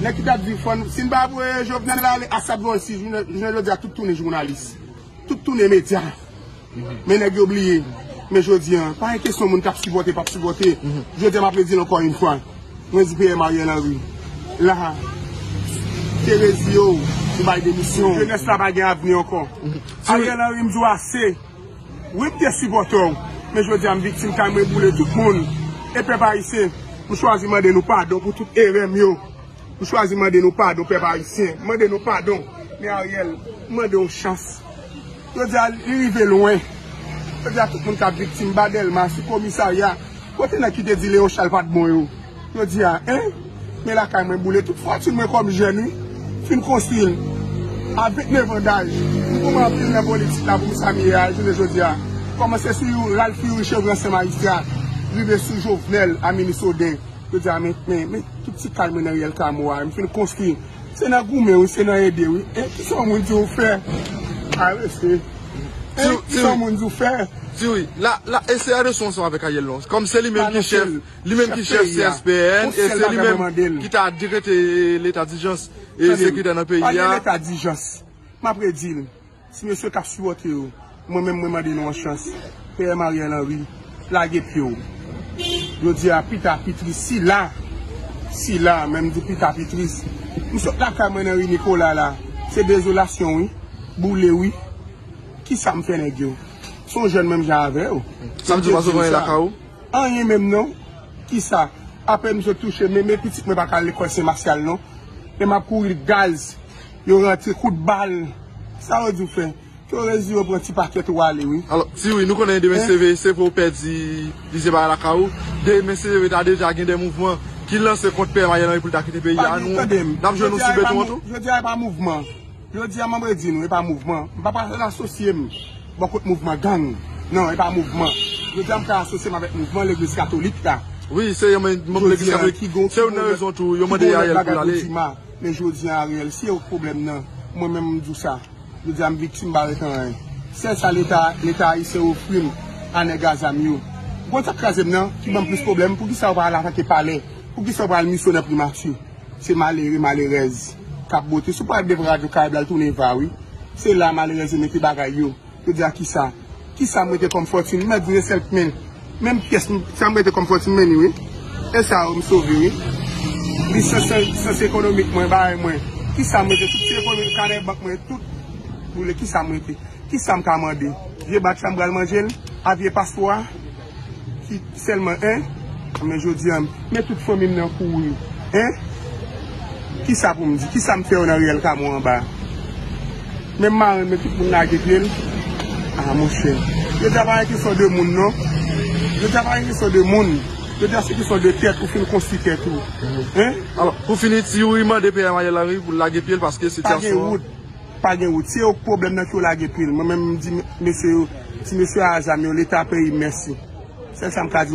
Nèg ki tap di fòn, si n pa voye Jovenel ale, a sa t voye si jounen jodi a tout tounen jounalis. Tout tounen medya. Men nèg yo bliye, men jodi an, pa gen kesyon moun kap sipòte, pap sipòte. Jodi a map redi l ankò yon fwa, mwen di PM Ariel Henry, la a, te rezi yo, ou bay demisyon. Jenès la pa gen avni ankò. Ariel Henry m di w ase. Wi m te sipòtè w, men jodi a m viktim kay mwen boule tout moun e pèp ayisyen m chwazi mande nou padon pou tout erè m yo m chwazi mande nou padon pèp ayisyen m mande nou padon men Ariel m mande w chans jodi a li rive lwen jodi a tout moun kap viktim ba delma sou komisarya kote nèg ki te di leon chal pat bon yo. Jodi a en Men lakay mwen boule tout fòtune mwen kòm jèn wi Fin konstwi l a 29 an daj M goumen anpil nan politik la pou m sa m ye a jounen jodi a Kòmanse sou you Ralph Youri Chevre ansyen majistra Rive sou Jovenel a minis Oden Jodi a men men men tout ti kay mwen nan riyèl Kamo a m fin konstwi Se nan goumen wi se nan ede wi en Kisa yon moun di ou fè A resi en Kisa yon moun di ou fè Ti wi la la e se a resi ansanm avèk Ariel non Kòm se li menm ki chèf Li menm ki chèf CSPN e se li menm ki ta dekrete leta dijans e sekirite nan peyi a. Tande m, pale leta dijans. M ap redi l, ti mesye k ap sipòte yo, mwen menm mwen mande nou yon chans. PM Ariel Henry, lage pye w. Jodi a, pita pitris sila, sila, men m di pita pitris. M sot lakay mwen nan ri Nikola la. Se dezolasyon wi. Boule wi. Kisa m fè nèg yo? Se yon jèn menm jan avè w. Sa vle di w pa sot vanyan lakay ou? Anyen menm non. Kisa? Apèn m sot touche men men pitit mwen pa ka al lekòl Sen Masyal non. E m ap kouri gaz. Yo rantre kout bal. Sa yo di w fè? Torèz di yo pran ti pakèt ou ale wi. Alò, ti Wi, nou konnen demen se veye se pou w pèdi plizyè bagay lakay ou. Demen se veye ta deja gen de mouvman ki lanse kont P. M. Ariel Henry pou l ta kite peyi a. Nou, n ap jwenn ou sou beton an tou? Jodi a e pa mouvman. Jodi a map redi nou epa mouvman, m pa pral asosye m bò kot mouvman gang nan epa mouvman, jodi a m ka asosye m avèk mouvman legliz katolik la jodi a ki gon lòt bagay pou di ma men jodi a Ariel se yo k pwoblèm nan mwen menm m di w sa jodi a m viktim m pa ret anyen sèl sa leta leta ayisyen ofri m a nèg a zam yo w konn sa k kraze m nan ki ban m plis pwoblèm poukisa yo pa al atake palè poukisa yo pa al misyonè primati. Se malere, malerèz kap bote. Si w pral devan radyo Karayb la, l tounen va wi. Se la malerèz yo mete bagay yo. Yo di a kisa? Kisa m rete kòm fòtin? M mèt vre sèlk men. Menm pyès m, sa m rete kòm fòtin men li wi. E sa yo m sove wi. Li sans ekonomik mwen, bagay mwen. Kisa m rete? Tout ti ekonomik, kanè bank mwen, tout boule. Kisa m rete? Kisa m ka mande? Vye bak sa m pral manje l? A vye pastwa? ki selman en men jodi an men tout fanmim nan kouri en kisa poum di kisa m fè yo nan riyèl kamo anba men marenn men tout moun lage pye l a monchè jodi a pa gen kesyon de moun non jodi a pa gen kesyon de moun jodi a se kesyon de tèt ou fin konstwi tèt ou en pou fini ti youri mande PM Ariel Henry pou l lage pye l paske sitiasyon an. Pa gen wout. Se yo k pwoblèm nan k yo lage pil. Mwen menm m di mesye yo ti mesye a zam yo leta peyim mèsi. Sèl sa m ka di.